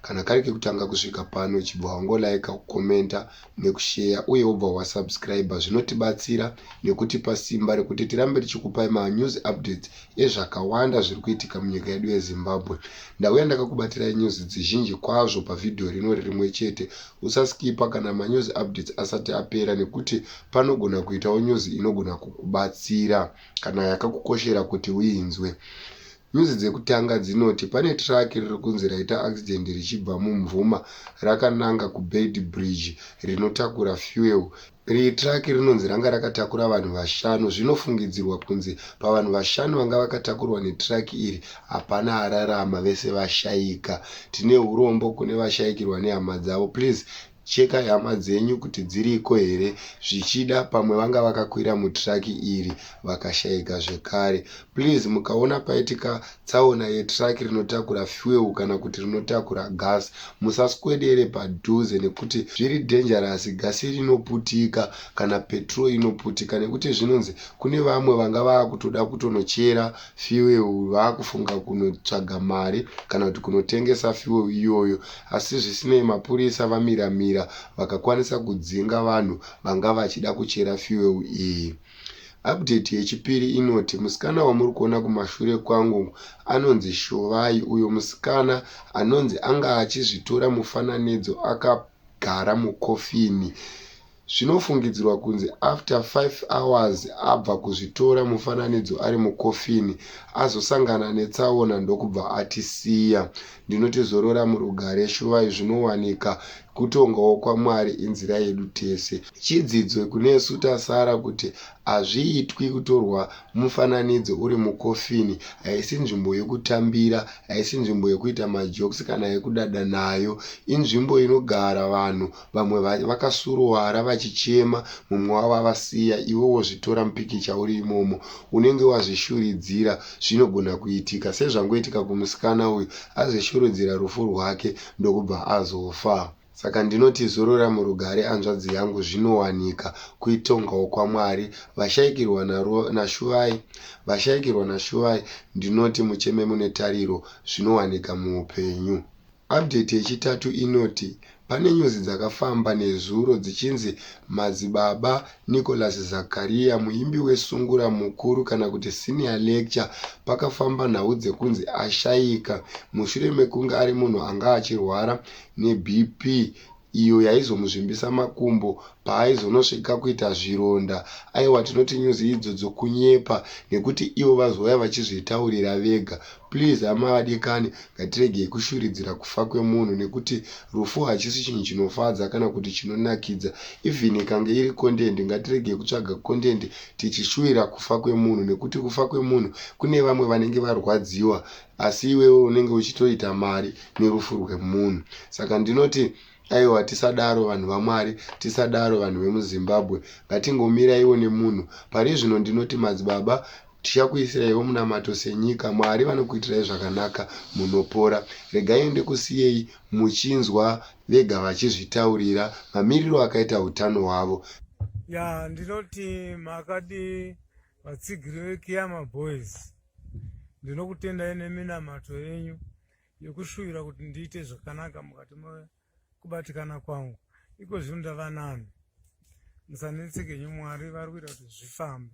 kana kari kekutanga kusvika pano chibva wangolaika kukomenta nekusheya uye wobva wasubscribe zvinotibatsira nekutipa simba rekuti tirambe tichikupai manews updates ezvakawanda zviri kuitika munyika yedu yezimbabwe ndauya ndakakubatirai news dzizhinji kwazvo pavhidhiyo rino ririmwe chete Usaskipa kana manews updates asati apera nekuti panogona kuitawo news inogona kukubatsira kana yakakukoshera kuti uinzwe. News dzekutanga dzinoti pane truck riri kunzi raita accident richibva muMvuma rakananga kuBeitbridge rinotakura fuel. Iri truck rinonzi ranga rakatakura vanhu vashanu. Zvinofungidzirwa kunzi pavanhu vashanu vanga vakatakurwa netruck iri, hapana ararama, vese vashaika. Tine hurombo kune vashaikirwa nehama dzavo. Please chekai hama dzenyu kuti dziriko here, zvichida pamwe vanga vakakwira mutruck iri vakashaika zvekare. Please mukaona paitika tsaona yetruck rinotakura fuel kana kuti rinotakura gas musaswedere padhuze nekuti zviri dangerous gasi rinoputika kana petrol inoputika nekuti zvinonzi kune vamwe vanga vakutoda kutonochera fuel vakufunga kunotsvaga mari kana kuti kunotengesa fuel iyoyo asi zvisinei mapurisa vamiramira vakakwanisa kudzinga vanhu vanga vachida kuchera fuel iyi. Update yechipiri inoti musikana wamuri kuona kumashure kwangu anonzi Shovai uyo musikana anonzi anga achizvitora mufananidzo akagara mukofini. Zvinofungidzirwa kunzi after 5 hours abva kuzvitora mufananidzo ari mukofini azosangana netsaona ndokubva atisiya. Ndinoti zorora murugare shuvai zvinowanika. Kutongawo kwaMwari inzira yedu tese. Chidzidzo kunesu tasara kuti hazviitwi kutorwa mufananidzo uri mukofini. Haisi nzvimbo yekutambira, haisi nzvimbo yekuita majokes kana yekudada nayo. Inzvimbo inogara vanhu Vamwe vacho vakasuruwara vachichema mumwe wavo avasiya iwe wozvitora mupikicha uri imomo. Unenge wazvishuridzira zvinogona kuitika sezvangoitika kumusikana uyu azvishurudzira rufu rwake ndokubva azofa. Saka ndinoti zorora murugare anzvadzi yangu zvinowanika kuitongawo kwaMwari vashaikirwa naro naShuvai vashaikirwa naShuvai ndinoti mucheme mune tariro zvinowanika muupenyu. Update yechitatu inoti pane nyuzi dzakafamba nezuro dzichinzi Madzibaba Nicholas Zacharia, muimbi weSungura Mukuru kana kuti Senior Lecture, pakafamba nhau dzekunzi ashaika mushure mekunge ari munhu anga achirwara neBP. iyo yaizomuzvimbisa makumbo paaizonosvika kuita zvironda. Aiwa tinoti news idzo dzokunyepa nekuti ivo vazouya vachizvitaurira vega. Please hama vadikani ngatiregei kushuridzira kufa kwemunhu nekuti rufu hachisi chinhu chinofadza kana kuti chinonakidza. Even ikange iri content ngatiregei kutsvaga content tichishuwira kufa kwemunhu nekuti kufa kwemunhu kune vamwe vanenge varwadziwa asi iwewe unenge uchitoita mari nerufu rwemunhu saka ndinoti aiwa tisadaro vanhu vamwari tisadaro vanhu vemuzimbabwe ngatingomiraiwo nemunhu pari zvino ndinoti madzibaba tichakuisiraiwo munamato senyika mwari vanokuitirai zvakanaka munopora regai ende kusiyei muchinzwa vega vachizvitaurira mamiriro akaita utano hwavo ya ndinoti makadi vatsigiri vekiyama boys Ndinokutendai neminamato yenyu yokushuvira kuti ndiite zvakanaka mukati mekubatikana kwangu. Iko zvino ndava nani. Musanetseke nyu Mwari vari kuita kuti zvifambe.